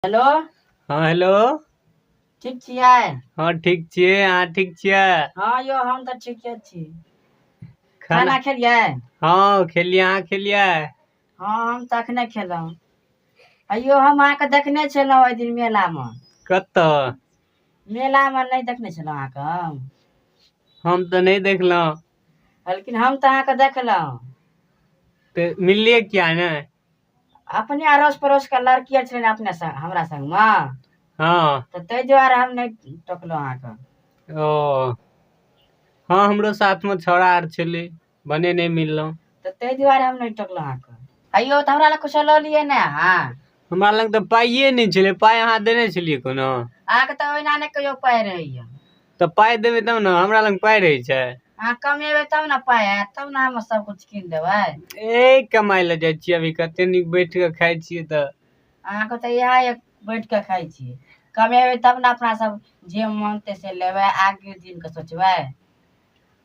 Hello हँ hello ठीक छियै हँ ठीक छियै अहाँ ठीक छियै हँ यौ हम तऽ ठीके छी खाना खेलियै हँ खेलियै अहाँ खेलियै हँ हम तऽ अखने खेलहुँ अयौ हम अहाँके देखने छलहुँ ओहि दिन मेलामे कतऽ मेलामे नहि देखने छलहुँ अहाँके हम हम तऽ नहि देखलहुँ लेकिन हम तऽ अहाँके देखलहुँ तऽ मिललियै किया ने अपने अड़ोस पड़ोस के लड़की आर छलै ने अपने संग हमरा संग मे हँ तऽ ताहि दुआरे हम नहि टोकलहुँ अहाँके ओ हँ हमरो साथ में छौड़ा आर छलै भने नहि मिललहुँ तऽ ताहि दुआरे हम नहि टोकलहुँ अहाँके अयौ तऽ हमरा लग कुछो लऽ लियै ने अहाँ हमरा लग तऽ पाइए नहि छलै पाइ अहाँ देने छलियै कोनो अहाँके तऽ ओहिना नहि कहियो पाइ रहैया तऽ पाइ देबै तब ने हमरा लग पाइ रहै छै अहाँ कमेबै तब ने पाइ आयत तब ने हम सब कुछ कीन देबै ए कमाइ लए जाइ छियै अभी कते नीक बैठ कऽ खाइ छियै तऽ अहाँके तऽ इएह एक बैठ कऽ खाइ छी कमेबै तब ने अपना सब जे मोन ते से लेबै आगे दिन के सोचबै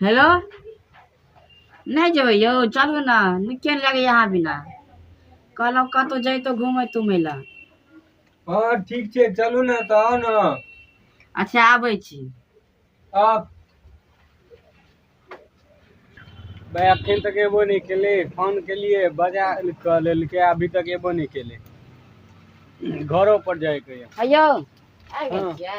हेलो नहि जेबै यौ चलू ने नीके नहि लगैए अहाँ बिना कहलहुँ कतहु जैतौ घूमै तूमै लए हँ ठीक छै चलू ने तऽ आउ ने अच्छा आबै छी आउ भाय अखन तक एबो नहि केले फोन केलिए बजा कऽ लेलकै अभी तक एबो नहि केले घरो पर जायके यऽ अयौ आबि गेल हँ। छियै